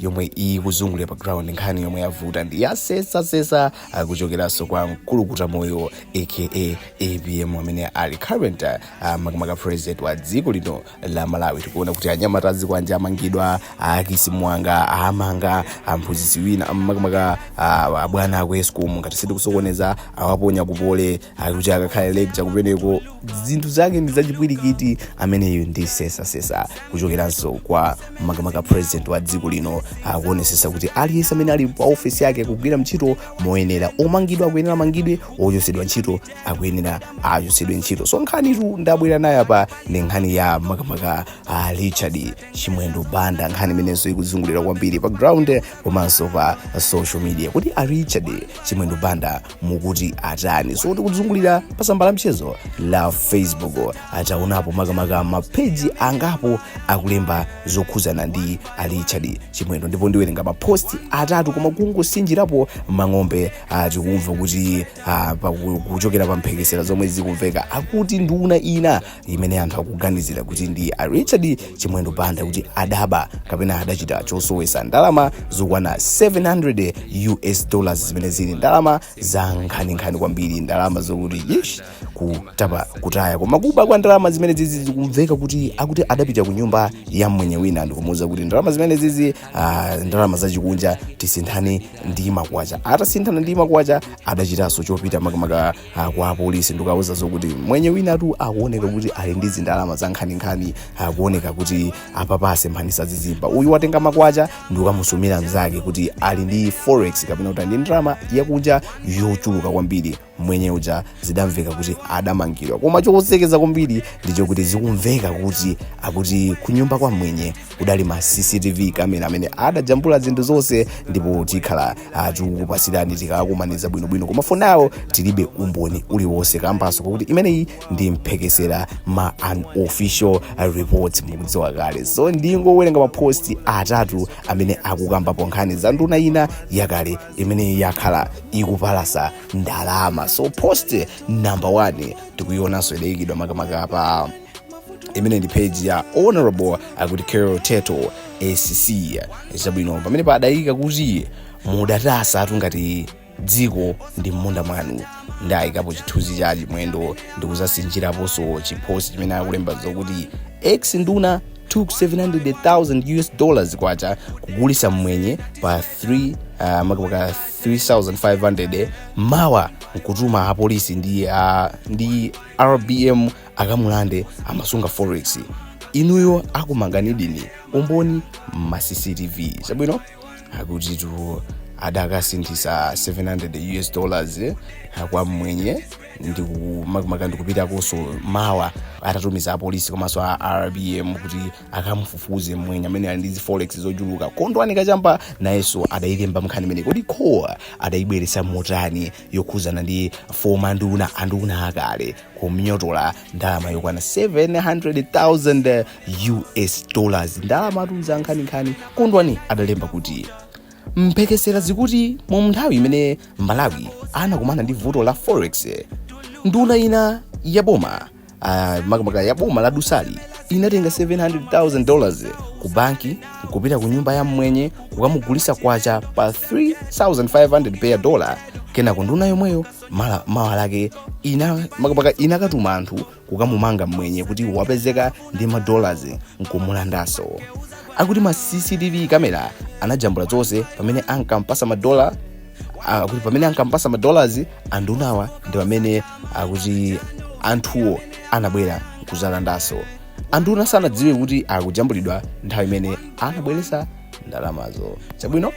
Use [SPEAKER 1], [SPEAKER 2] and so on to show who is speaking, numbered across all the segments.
[SPEAKER 1] yomwe ikuzungulira pa ground nkhani yomwe yavuta ndi ya sesasesa kuchokeranso kwa mkulukutamoyo aka apm amene ali current uh, makamaka president wa dziko lino la malawi tikuona kuti anyamata a zikwanje amangidwa akisi mwanga amanga amphunzitsi wina makamaka uh, abwana aku escom ngati sindikusokoneza awaponya ku poly ali kuti akakhale lecturer kumeneko zinthu zake ndi zachipwirikiti imeneyi ndi sesasesa kuchokeranso kwa makamaka president wa dziko lino akuonesesa kuti aliyense amene ali pa ofesi yake akugwira ntchito moyenera omangidwa akuyenera amangidwe ochotsedwa ntchito akuyenera achotsedwe ntchito so nkhanitu ndabwera nayo apa ndi nkhani ya makamaka a richard chimwendo banda nkhani imenenso ikuzungulira kwambiri pa ground komanso pa social media kuti a richard chimwendo banda mukuti atani so tikuzungulira pa tsamba la mchezo la facebook taonapo makamaka mapeji angapo akulemba zokhuzana ndi a richard chimwendo ndipo ndiwerenga maposti atatu koma kungosinjirapo mang'ombe ah, tikumva kuti ah, pa- ku- kuchokera pa mphekesera zomwe zikumveka akuti nduna ina imene anthu akuganizira kuti ndi a richard chimwendo banda kuti adaba kapena adachita chosowesa ndalama zokwana 700 us dollars zimene zili ndalama za nkhaninkhani kwambiri ndalama zokuti ish kutapa kutaya koma kuba kwa ndalama zimenezizi zikumveka kuti akuti adapita ku nyumba ya mmwenye wina ndikumuuza kuti ndalama zimenezizi ah, ndalama zachikunja tisinthane ndi makwacha atasinthana ndi makwacha adachitanso chopita makamaka kwa apolisi ndikawauza zokuti mwenye winatu akuoneka kuti ali ndi zindalama za nkhaninkhani akuoneka kuti apapa asemphanisa zizimba uyu watenga makwacha ndikukamusumira mzake kuti ali ndi forex kapena kuti ali ndi ndalama yakunja yochuluka kwambiri mwenye uja zidamveka kuti adamangidwa koma chosekeza kwambiri ndi chokuti zikumveka kuti akuti kunyumba kwa mwenye kudali ma cctv camera amene adajambula zinthu zonse ndipo tikhala tikukupasirani tikakumaniza bwinobwino koma for now tilibe umboni uliwonse kambaso kakuti imeneyi ndi mphekesera ma unofficial report mukudziwa kale so ndingowerenga maposti atatu amene akukambapo nkhani za nduna ina yakale imene yakhala ikupalasa ndalama so post number one tikuyionanso idayikidwa makamaka pa imene ndi page ya honorable akuti carol teto acc zabwino pamene padayika kuti mudatasatu ngati dziko ndi mmunda mwanu ndayikapo chithunzi cha chimwendo ndikuzasinjiraponso chiposti chimene akulemba zokuti ex nduna took 700,000 us dollars kwacha kugulisa mmwenye pa 3 uh, makamaka 3500 mawa nkutuma apolisi ndi, uh, ndi rbm akamulande amasunga forex inuyo akumanganidi umboni ma cctv chabwino akutitu adakasinthisa 700,000 us dollars eh, kwa mmwenye ndikupitakonso mawa atatumiza apolisi komanso a rbm kuti akamufufuze mmwenye amene ali ndi zi forex zochuluka kondwani kachamba nayenso adayilemba mnkhani imene kodi iwowa adayibweresa motani yokhuzana ndi former nduna anduna akale kumuyotola ndalama yokwana 700,000 us dollars ndalamatu nzankhaninkhani kondwani adalemba kuti mphekesera zikuti mu nthawi imene malawi anakumana ndi vuto la forex nduna ina ya boma ah, makamaka ya boma la dusali inatenga 700,000 dollars ku banki nkupita ku nyumba ya mmwenye kukamugulisa pa 3500 per dollar kenako nduna yomweyo mawa lake inakatuma anthu kukamumanga mmwenye kuti wapezeka ndi madollars nkumulandaso akuti ma cctv kamera anajambula zonse pamene pamene ankampasa madollars andunawa ndi pamene akuti anthuwo anabwera kuzalandaso anduna sanadziwe kuti akujambulidwa nthawi imene anabweresa ndalamazo chabwino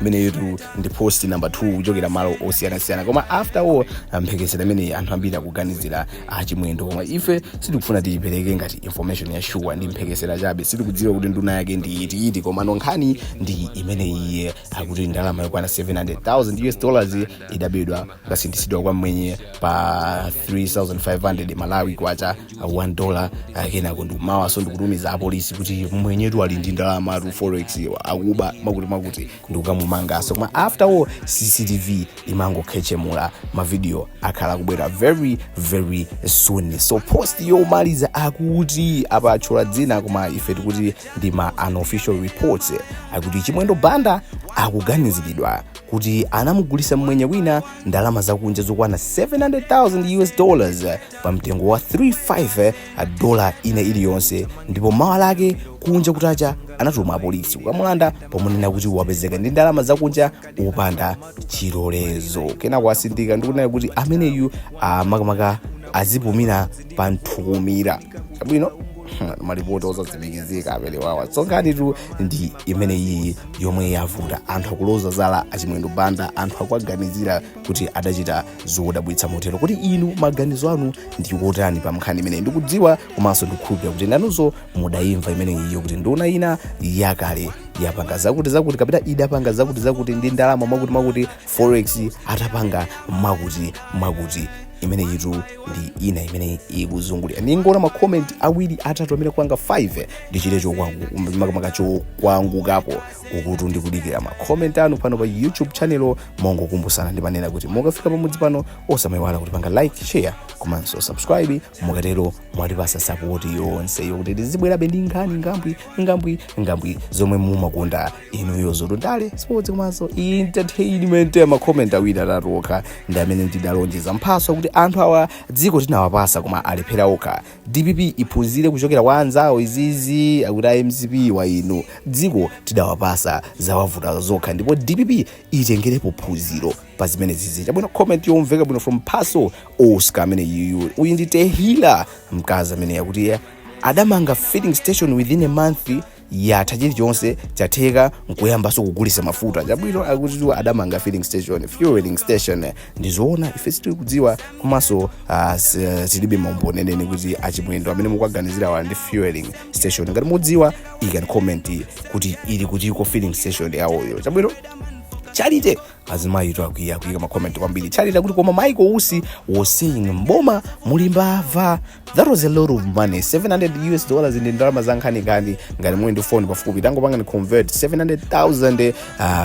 [SPEAKER 1] imeneyitu ndi post number 2 kuchokera malo osiyanasiyana koma after all mphekesera imeneyi anthu ambiri akuganizira achimwendo koma ife sitikufuna tiyipereke ngati information ya shuwa ndi mphekesera chabe sitikudziwa kuti nduna yake ndi iti iti koma nkhani ndi imeneyi akuti ndalama yokwana 700000 us dollars idabedwa nkasinthisidwa kwa mmwenye pa 3500 malawi kwacha uh, 1 dollar uh, kenako ndikumawaso ndikutumiza apolisi kuti mmwenyetu ali ndi ndalamatu forex iwa akuba mwakuti mwakuti ndikukamumangaso koma after all cctv imangokhechemula mavidiyo akhala akubwera very very soon so post yomaliza akuti apa atchula dzina koma ife tikuti ndi ma unofficial reports akuti chimwendo banda akuganiziridwa kuti anamugulisa mmwenye wina ndalama zakunja zokwana 700,000 US dollars pa mtengo wa 35 dola ina iliyonse ndipo mawa lake kunja kutacha anatuma apolisi kukamulanda pomunena kuti wapezeka ndi ndalama zakunja opanda chilolezo kenako atsindika ndikunena kuti ameneyu amakamaka azipumira pa nthukumira chabwino malipoti osatsimikizika amenewawa so nkhanitu ndi imene iyi yomwe yavuta anthu akuloza zala achimwendo banda anthu akuwaganizira kuti adachita zodabwitsa motero kodi inu maganizo anu ndi otani pa mnkhani imeneyi ndikudziwa komanso ndikukhulupirira kuti nanunso mudayimva imeneyiyo kuti nduna ina yakale yapanga zakuti zakuti kapena idapanga zakuti zakuti ndi ndalama mwakuti mwakuti forex atapanga mwakuti mwakuti imeneyitu ndi ina imene ikuzungulira ndingoona makomenti awiri atatu amene kwanga 5 ndichite chokwangu- makamaka chokwangukako uku tu ndikudikira makomenti anu pano pa youtube channel mongokumbutsana ndimanena kuti mukafika pamudzi pano osamayiwala kutipanga like share komanso subscribe mukatero mwatipasa sapoti yonse yokuti tizibwerabe ndi nkhani ngambwi ngambwi ngambwi zomwe mumakonda inuyo zolundale sipotsi komanso entertainment amakomenti awiri atatu okha ndi amene ndidalonjeza mphaso kuti anthu awa dziko tinawapasa koma alephera okha dpp iphunzire kuchokera kwa anzawo izizi akuti a mcp wa inu dziko tidawapasa zawavuta zokha ndipo dpp itengerepo phunziro pa zimene zizi chabwino comment yomveka bwino from mphaso oscar amene yuyu uyu ndi tehila mkazi ameneyu akuti adamanga filling station within a month yatha chilichonse chatheka nkuyambanso kugulisa mafuta chabwino akuti awa adamanga filling station fueling station ndizoona ife sitili kudziwa komanso ah, s- eh, tilibe maumboni enieni kuti achimwendo amene mukuwaganizirawa ali ndi fueling station ngati mukudziwa ikani comment kuti ili kutiko filling station yawoyo chabwino charite azimayitu akwiya kuyika makomenti kwambiri charite akuti koma maiko usi is saying mboma muli mbava that was a lot of money 700 us dollars ndi ndalama zankhaninkhani ngati muli ndi phone pafupi tangopangani convert 700000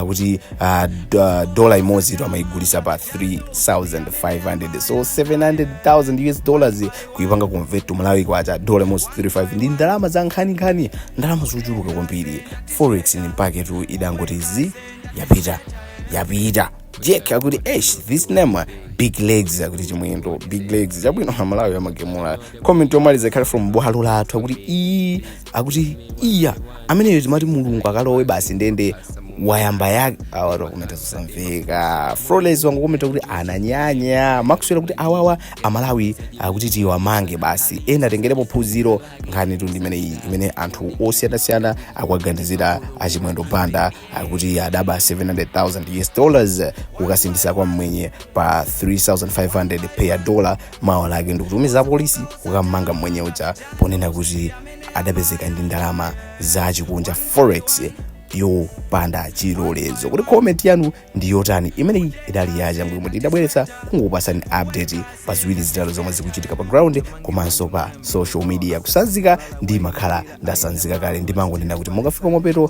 [SPEAKER 1] uh, kuti uh, d- uh, dola imodzitu amayigulisa pa 3500 so 700000 us dollars kuyipanga convert to malawi kwacha dola imodzi 35 ndi ndalama zankhaninkhani ndalama zochuluka kwambiri forex ni mpaketu idangoti zi yapita yapita jack akuti esh this name big legs akuti chimwendo big legs chabwino amalawi amagemula comment yomaliza ikhale from bwalo lathu akuti ii akuti iya ameneyo timati mulungu akalowe basi ndende wayamba kale awa akomenta zosamveka flores wangokomenta kuti ananyanya maxwell kuti awawa amalawi akuti tiwamange basi ena atengerepo phunziro nkhanitu ndi imeneyi imene anthu osiyanasiyana akuwaganizira achimwendo banda akuti adaba 700,000 US dollars kukasinthitsa kwa mmwenye pa 3500 per dollar mawa lake ndikutumiza polisi kukammanga mmwenye uja ponena kuti adapezeka ndi ndalama za chikunja forex yopanda chilolezo kuti comment yanu ndi yotani imeneyi idali yachangu imene tidabweretsa kungokupasani update pa ziwiri zitatu zomwe zikuchitika pa ground komanso pa social media kusanzika ndimakhala ndasanzika kale ndimangonena kuti mukafika mapeto